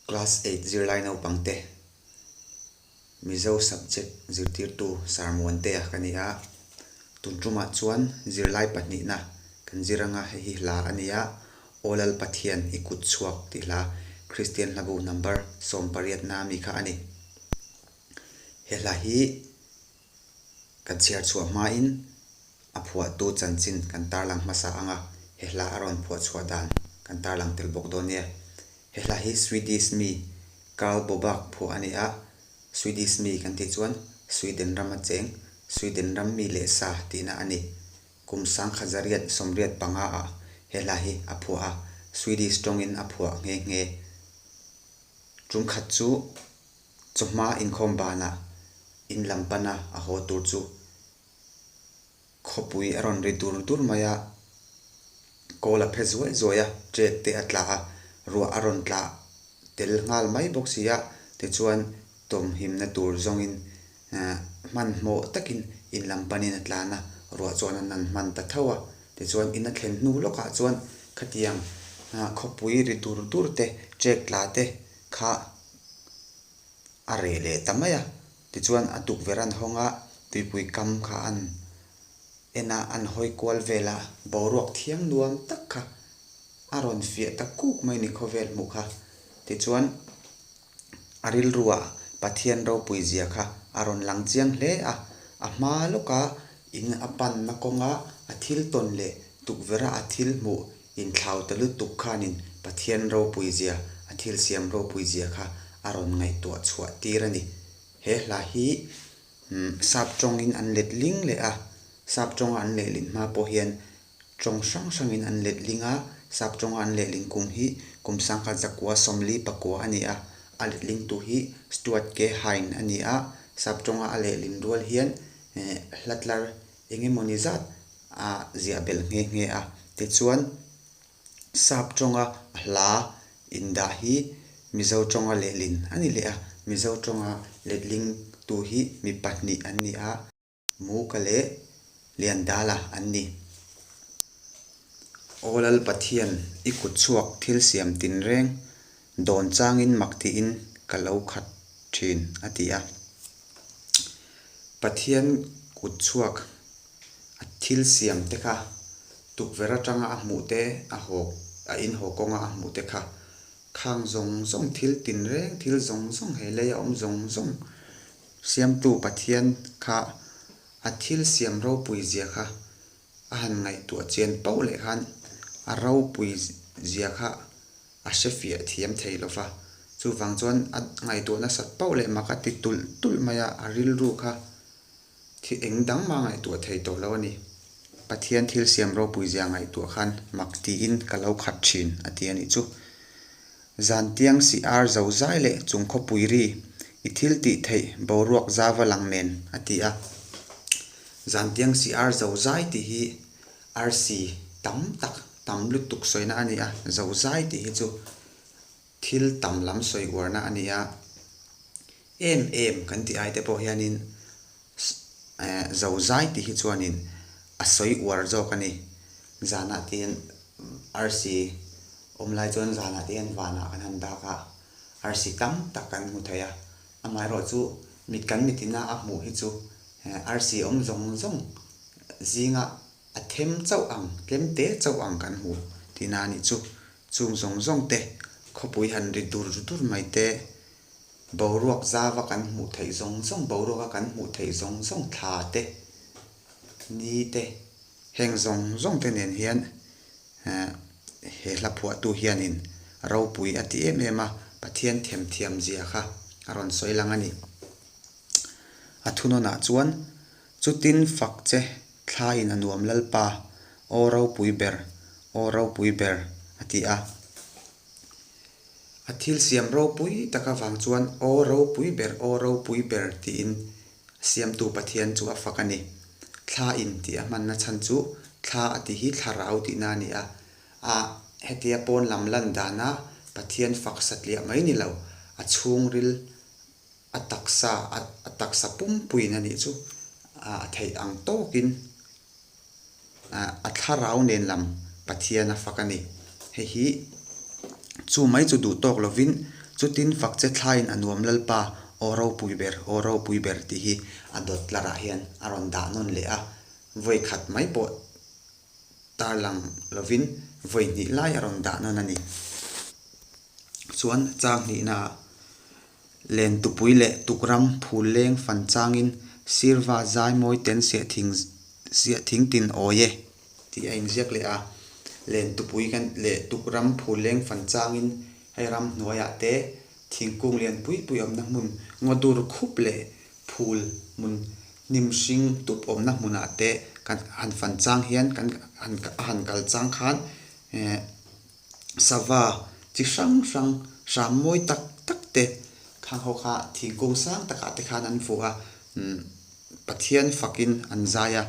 Class eight zirlai naupangte, Mizo subject zirtirtu Sarmuantea ka ni a, tun tumah chuan zirlai pahnihna kan zir anga hei hi hla a nia, Aw Lal Pathian i kut chhuak tih hla, Kristian Hlabu Number sawmpariatna mi kha a ni. He hla hi. Kan chhiar chhuah hmain a phuahtu chanchin kan tarlang hmasa anga he hla a rawn phuah chhuah dan kan tarlang tel bawk dawn nia. He hla hi Swedish mi Karl Bobak phuah a ni a, Swedish mi kan tih chuan Sweden ram a cheng Sweden ram mi leh sa tihna a ni. Kum sangkhat zariat sawmriat panga ah he hla hi a phuah a, Swedish tawngin a phuah nghe nghe. Tumkhat chu. Chawhma inkhawm banah in lam pana a haw tur chu khawpui a rawn ri dur dur mai a, kawl a phe zuai zuai a, ṭek te a tla a, ruah a rawn tla tel nghal mai bawk si a, tichuan tawmhimna tur zawngin hmanhmawh takin in lam panin a tlana ruah chuan a nan hman ta tho a, tichuan in a thlen hnu lawkah chuan khatiang khawpui ri dur dur te, ṭek tla te kha a rei leh ta mai a, tichuan a tukverh an hawng a, tuipui kam kha an en a, an hawi kual vel a, boruak thiam nuam tak kha a rawn fiah ta kuk mai ni khawvel hmuh kha, tichuan a rilruah Pathian ropui zia kha a rawn lang chiang hle a, a hma lawka in a panna kawnga a thil tawn leh tukverha a thil hmuh Inthlaute lutuk khanin Pathian ropuizia, a thil siam ropuizia kha a rawn ngaihtuah chhuah tir a ni. He hla hi sap tawngin an let ling leh a, sap tawnga an lehlin hma pawh hian tawng hrang hrangin an let ling a, sap tawnga an lehlin kum hi kum sangkhat zakua sawmli pakua a ni a, a lehlingtu hi Stuart K. Hine a ni a, sap tawnga a lehlin rual hian Hlatlar Eng emaw ni zat a ziah belh nghe nghe a, tichuan sap tawnga a hla in dah hi Mizo tawnga lehlin a ni leh a, Mizo tawnga letling tu hi mi pahnih an ni a, Muka leh Liandala an ni. Aw Lal Pathian i kut chhuak thil siam tin reng Dawn changin mak tiin ka lo khat thin, a ti a. Pathian kut chhuak a thil siam te kha, tukverh atanga a hmuh te, a hawk, a inhaw kawnga a hmuh te kha, khang zawng zawng, thil tin reng, thil zawng zawng, he lei a awm zawng zawng Siamtu Pathian kha a thil siam ropui zia kha a han ngaihtuah chian poh leh khan a ropui zia kha a hre fiah thiam thei lo va, chuvang chuan a ngaihtuah nasat poh leh mak a ti tulh tulh mai a, a rilru kha thil eng dang mah a ngaihtuah thei tawh lo a ni. Pathian thil siam ropui zia ngaihtuah khan mak tiin ka lo khat thin a ti a nih chu. Zantiang Siar Zozai leh Chungkhaw Puiri i thil tih theih boruak zava lang nen a ti a. Zantiang Siar Zozai tih hi arsi tam tak tam lutuk sawina a ni a. Zozai tih hi chu thil tam lam sawi uarna a ni a. Em em kan ti aite pawh hianin eh Zozai tih hi chuanin a sawi uar zawk a ni. Zanah te hian arsi awm lai chuan zanah te hian vanah kan han dak a, arsi tam tak kan hmu thei a. Amaherawh chu mit kan mit ina a hmuh hi chu eh arsi awm zawng zawng zinga a them chauh ang, tlem te chauh ang kan hmu tihna a nih chu. Chung zawng zawng te, khawpui han ri dur dur mai te, Boruak zava kan hmuh theih zawng zawng, boruaka kan hmuh theih zawng zawng thla te, ni te. Heng zawng zawng te nen hian he hla phuahtu hianin ropui a ti em em a, Pathian thèm thiam zia kha a rawn sawi lang a ni. A thunawnah chuan, Chutin fak che, thla in a nuam lalpa, aw ropui ber, aw ropui ber, a ti a. A thil siam ropui tak avang chuan aw ropui ber aw ropui ber tiin a siamtu Pathian chu a fak a ni. Thla in tih a hmanna chhan chu thla a ti hi thlarau tihna a ni a. A hetia pawn lam lan dana Pathian fak satliah mai ni lo, a chhungril A taksa, a taksa pumpuiin a nih chu a theih ang tawkin a thlarau nen lam Pathian a fak a ni. Hei hi chu mai chu duh tawk lovin chutin fak che thlaiin a nuam lalpa aw ropui ber, aw ropui ber tih hi a dawtlarah hian a rawn dah nawn leh a. Vawi khat mai pawh tarlang lovin vawi hnih lai a rawn dah nawn a ni. Chuan chang hnihnaah len tupui leh tukram phul leng fan changin sirva zai mawi ten siah thing siah thing tin awi e tih a inziak leh a. Len tupui kan leh tukram phul leng fan changin hei ram hnuaiah te thingkung lian pui pui awmna hmun ngaw dur khup leh phul hmun hnim hring dup awmna hmunah te kan han fan chang hian kan han a han kal chang khan eh sava chi hrang hrang, ram mawi tak tak te, khang ho kha thingkung sang takah te khan an fuh a, Pathian fakin an zai a.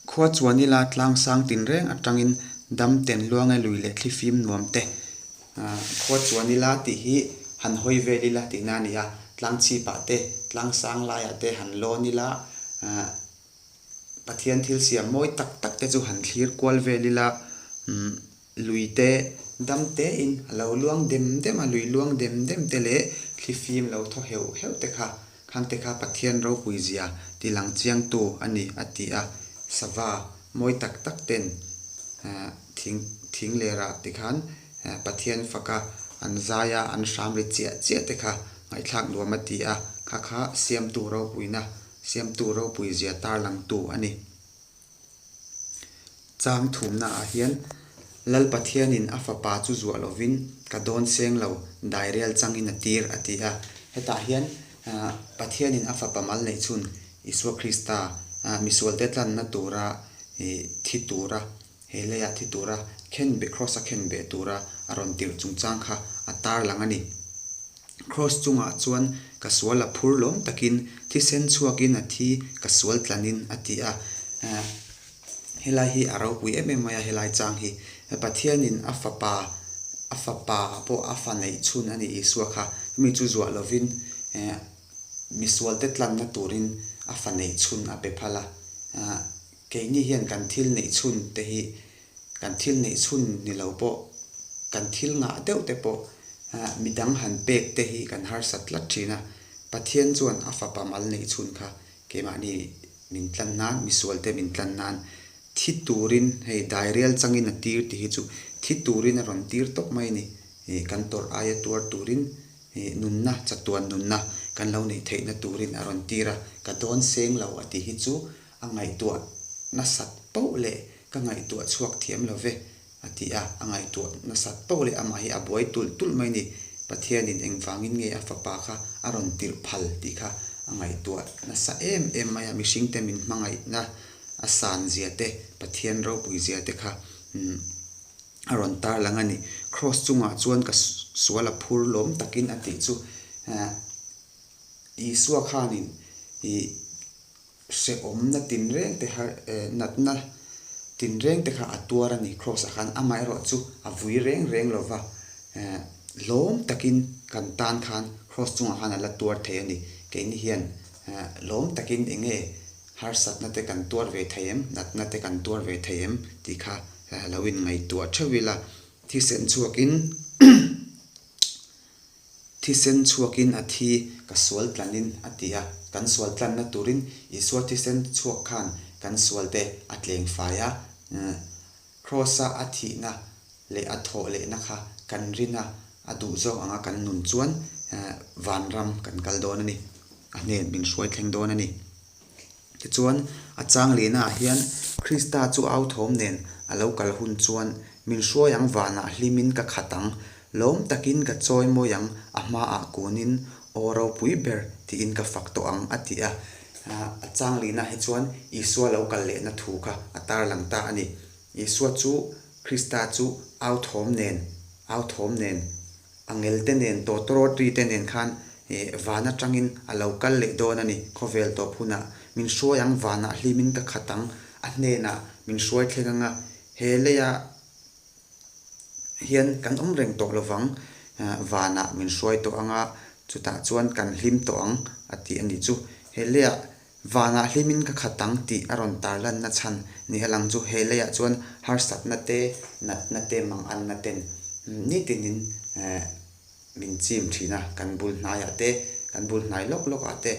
Khua chuan ila tlang sang tinreng atangin dam ten luang e lui leh thli fim nuam te, khua chuan ila tih hi han hawi vel ila tihna a ni a, tlang chhipah te, tlang sang laiah te han lawn ila, Pathian thil siam mawi tak tak te chu han thlir kual vel ila, lui te dam te in a lo luang dem dem a, lui luang dem dem te leh thli fim lo thaw heuh heuh te kha khang te kha Pathian ropui zia tilang chiang tu a ni a ti a. Sava mawi tak tak ten thing thing leh rah te khan Pathian faka an zai a, an hram ri chiah chiah te kha ngaihthlak nuam a ti a, kha kha siam tu ropuina Siamtu ropui zia tarlangtu a ni. Chang thumnaah hian Lal Pathianin a fapa chu zuah lovin ka dawn seng lo, dairel changin a tir, a ti a. Hetah hian Pathianin a fapa mal neih chhun Isua Krista misualte tlanna tura thi tura He leiah thi tura khen beh Kraws a khen beh tura a rawn tirh chungchang kha a tar lang a ni. Kraws chungah chuan ka sual a phur lawm takin thisen chhuakin a thi ka sual tlanin a ti a. Aah, helai hi a ropui em em mai a helai chang hi. Pathianin a fapa, a fapa pawh a faneih chhun a ni Isua kha. Chumi chu zuah lovin misualte tlanna turin a faneih chhun a pe phalh a. Aah. Keini hian kan thil neih chhun te hi kan thil neih chhun ni lo pawh, kan thil ngah deuh te pawh midang han pek te hi kan harsat tlat thin a. Pathian chuan a fapa mal neih chhun kha keimahni min tlan nan, misual te min tlan nan thi turin hei dairial changin a tir tih hi chu thi turin a rawn tir tawp mai a ni. Kan tawrh aia tuar turin nunna, chatuan nunna kan lo neih theihna turin a rawn tir a, ka dawn seng lo a tih hi chu A ngaihtuah nasat pauh le, ka ngaihtuah chhuak thiam lo ve, a ti a. A ngaihtuah nasat pauh le, amah hi a buai tulh tulh mai ni. Pathianin engvangin nge a Fapa kha a rawn tirh phal tih kha a ngaihtuah nasa em em mai a. Mihringte min hmangaihna, a san zia te, Pathian ropui zia te kha a rawn tarlang a ni. Kraws chungah chuan ka sual a phur lawm takin a tih chu Isua khanin i, Hrehawmna tinrengte har eh natna tinrengte kha a tuar a ni. Kraws a khan amaherawh chu a vui reng reng lo va, eh lawm takin kan tan khan kraws chungah khan a la tuar thei a ni. Keini hian eh lawm takin eng nge harsatna te kan tuar ve thei em, natna te kan tuar ve thei em tih kha lo in ngaihtuah theuh ila thisen chhuakin Thisen chhuakin a thi ka sual tlanin a ti a, kan sual tlanna turin Isua thisen chhuak khan kan sual te a tleng fai a, Kraws-a a thihna leh a thawh lehna kha kan rin a, a duh zawk anga kan nun chuan vanram kan kal dawn a ni, a hnen min hruai thleng dawn a ni. Tichuan, a chang lehnaah hian Krista chu au thawm nen a lo kal hun chuan, Min hruai ang vanah hlimin ka khat ang, lawm takin ka chawi mawi ang, a hmaah kunin aw ropui ber tiin ka fak tawh ang, a ti a. A chang lehnaah hi chuan Isua lo kal lehna thu kha a tarlang ta a ni. Isua chu Krista chu au thawm nen, au thawm nen A ngelte nen tawh tawrawt ri te nen khan van atangin a lo kal leh dawn a ni. Khawvel tawp hunah min hruai ang vanah hlimin ka khat ang. A hnenah min hruai thleng anga he leia hian kan awm reng tawh lovang vanah min hruai tawh anga chutah chuan kan hlim tawh ang a tih a ni chu. He leia Vanah hlimin ka khat ang tih a rawn tarlanna chhan ni a lang chu he leiah chuan harsatna te, natna te, manganna ten nitin in min chim thin a, kan bul hnaiah te, kan bul hnai lawk lawkah te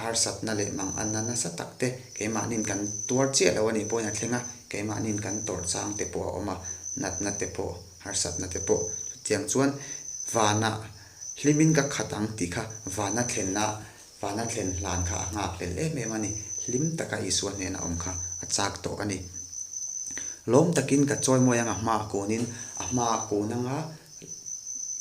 harsatna leh manganna nasa tak te keimahniin kan tuar chiah lo a nih pawhin a thleng a, keimahniin kan tawrh chang te pawh a awm a, natna te pawh, harsatna te pawh. Chutiang chuan vanah hlimin ka khat ang tih kha vana thlenna Vana tlen hlan kha a nghak lel em em a ni. Hlim taka Isua hnena awm kha a chak tawh a ni. Lawm takin ka chawimawi ang a hma kunin, a hma kun anga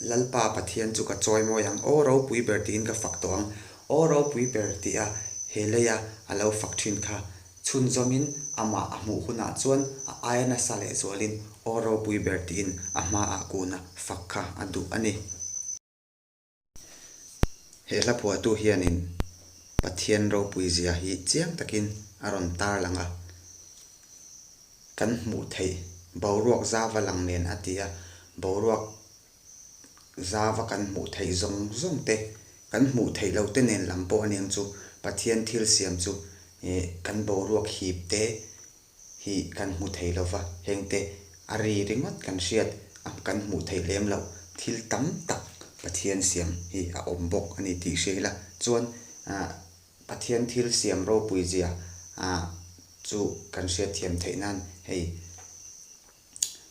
Lalpa Pathian chu ka chawimawi ang. Aw ropui ber tiin ka fak tawh ang. Aw ropui ber tih a he leia a lo fak thin kha. Chhun zawngin amah a hmuh hunah chuan a aia nasa leh zualin aw ropui ber tiin a hma ah kun a fak kha a duh a ni. He hlaphuahtu hianin Pathian ropui zia hi chiang takin a rawn tarlang a, kan hmuh theih boruak zava lang nen a ti a, boruak zava kan hmuh theih zawng zawng te, kan hmuh theih lo te nen lam pawh aniang chu Pathian thil siam chu kan boruak hip te hi kan hmu thei lo va, hengte a ri ringawt kan hriat a kan hmuh theih lem loh thil tam tak Pathian siam hi a awm bawk a ni tih hria ila chuan Pathian thil siam ropui zia chu kan hriat thiam theih nan hei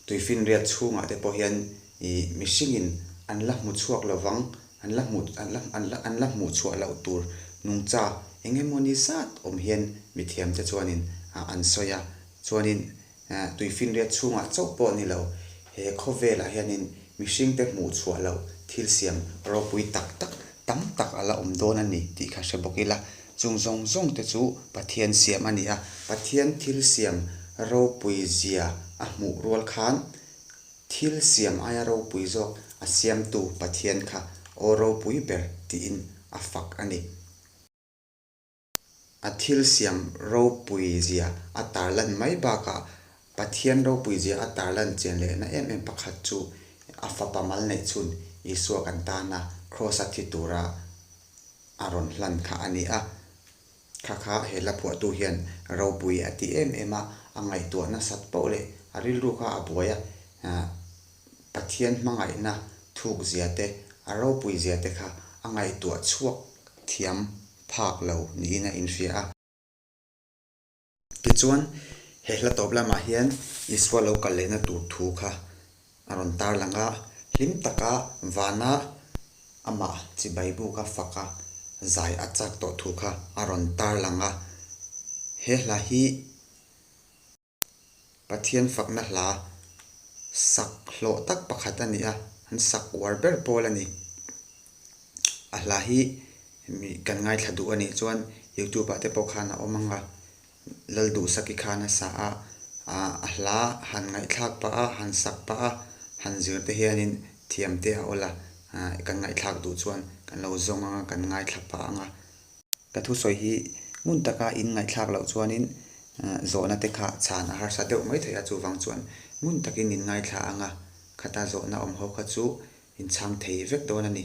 tui finriat chhungah te pawh hian ih mihringin an la hmu chhuak lo vang, an la hmu an la an la an la hmuh chhuah loh tur nungcha eng nge maw ni zat awm hian mithiamte chuanin ah an sawi a, chuanin eh tui finriat chhungah chauh pawh ni lo he khawvelah hianin Mihring te hmuh chhuah loh thil siam ropui tak tak tam tak a la awm dawn a ni tih kha hre bawk ila, chung zawng zawng te chu Pathian siam a ni a, Pathian thil siam ropui zia a hmuh rual khan thil siam aia ropui zawk a siamtu Pathian kha aw ropui ber tiin a fak a ni. A thilsiam ropui zia a tarlan mai bakah Pathian ropui zia a tarlan chian lehna em em pakhat chu a fapa mal neih chhun Isua kan tana Kraws a thi tura a rawn hlan kha a ni a. Kha kha he la phuahtu hian ropui a ti em em a, a ngaihtuah nasat paoh leh a rilru kha a buai a. Pathian hmangaihna thukzia te, a ropui zia te kha a ngaihtuah chhuak thiam phak lo niin a inhria a. Tichuan, he hla tawp lamah hian Isua lo kal lehna tur thu kha a rawn tarlang a, hlim taka vana amah chibai buka faka zai a chak tawh thu kha a rawn tarlang a. He hla hi. Pathian fakna hla sak hlawh tak pakhat a ni a, an sak uar ber pawl a ni. A hla hi mi kan ngaithla duh a nih chuan youtube-ah te pawh khan a awm ang a, lal duhsaki khan a sa a, a hla han ngaihthlak pah a, han sak pah a, han zir te hianin thiam te a awla kan ngaihthlak duh chuan kan lo zawng ang a, kan ngaithla pah ang a. Ka thusawi hi ngun taka in ngaihthlak loh chuanin zawhna te kha chhan a harsa deuh mai thei a, chuvang chuan ngun takin min ngaithla ang a, khata zawhna awm ho kha chu in chhang thei vek dawn a ni.